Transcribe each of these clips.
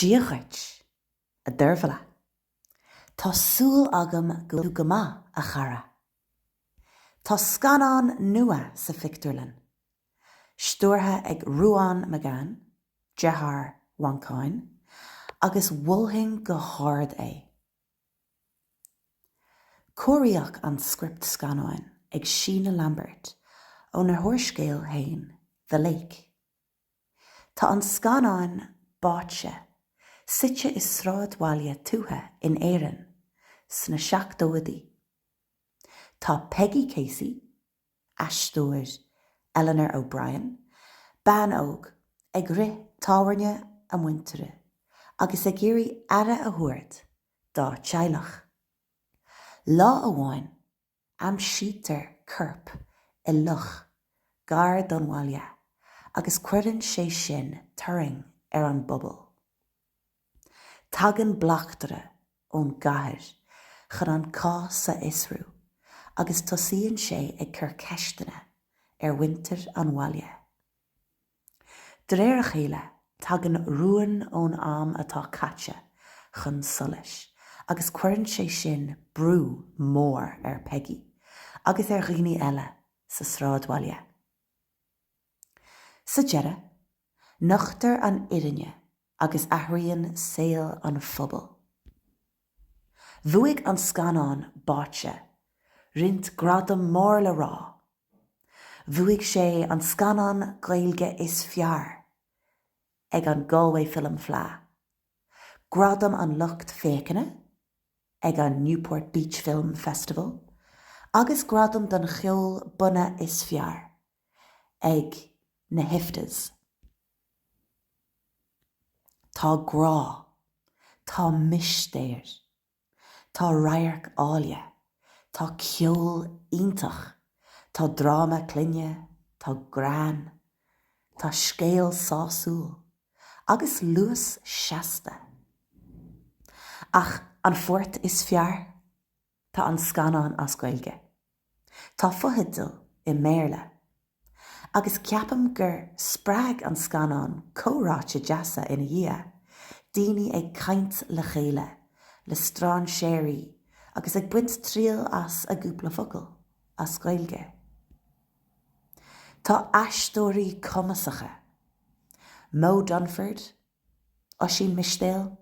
Dia dhuit, a Dheirbhile. Tá súil agam go go maith, a chara. Tá scannán nua sa phictiúrlann, stiúrtha ag Ruán Magan, deartháir Mhancháin, agus mholfainn go hard é. Cóiríodh an script scannáin ag Sheena Lambert óna húrscéal féin, The Lake. Tá an scannán Báite suite i sráidbhaile tuaithe in Éirinn sna seachtóidí. Tá Peggy Casey, aisteoir Eleanor O'Brien, bean óg ag rith tábhairne a muintire agus ag iarraidh aire a thabhairt dá teaghlach. Lá amháin Aimsítear corp i loch gar don bhaile agus cuireann sé sin turraing ar an bpobal. Tagann bleachtaire ón gcathair chun an cás a fhiosrú agus tosaíonn sé ag cur ceisteanna ar mhuintir an bhaile. De réir a chéile, tagann rúin ón am atá caite chun solais agus cuireann sé sin brú mór ar Peggy agus ar dhaoine eile sa sráidbhaile. Sa deireadh, nochtar an fhírinne agus athraíonn saol an phobail. Bhuaigh an scannán Báite roinnt gradam mór le rá. Bhuaigh sé an scannán Gaeilge is fearr ag an Galway Film Fleadh, gradam an lucht féachana ag an Newport Beach Film Festival agus gradam don cheol bunaidh is fearr ag na hIFTAs. Tá grá, tá mistéir, tá radhairc áille, tá ceol iontach, tá dráma clainne, tá greann, tá scéal sásúil agus luas seasta. Ach an pháirt is fearr? Tá an scannán as Gaeilge. Tá fotheidil i mBéarla. Agus ceapaim gur spreag an scannán comhráite deasa ina dhiaidh, daoine ag caint le chéile, le stráinséirí agus ag baint triail as a gcúpla focal as Gaeilge. Tá aisteoirí cumasacha, Moe Dunford, Oisín Mistéil,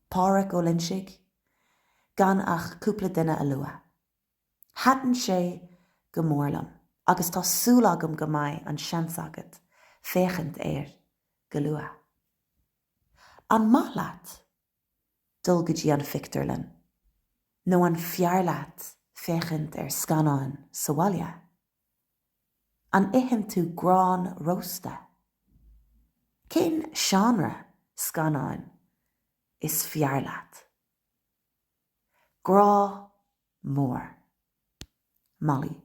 Páraic Ó Loinsigh, gan ach cúpla duine a lua. Thaitin sé go mór liom agus tá súil agam go mbeidh an seans agat féachaint air go luath. An maith leat dul go dtí an phictiúrlann nó an fearr leat féachaint ar scannáin sa bhaile? An itheann tú grán rósta? Cén seánra scannáin is fearr leat? Grá mór. Molly.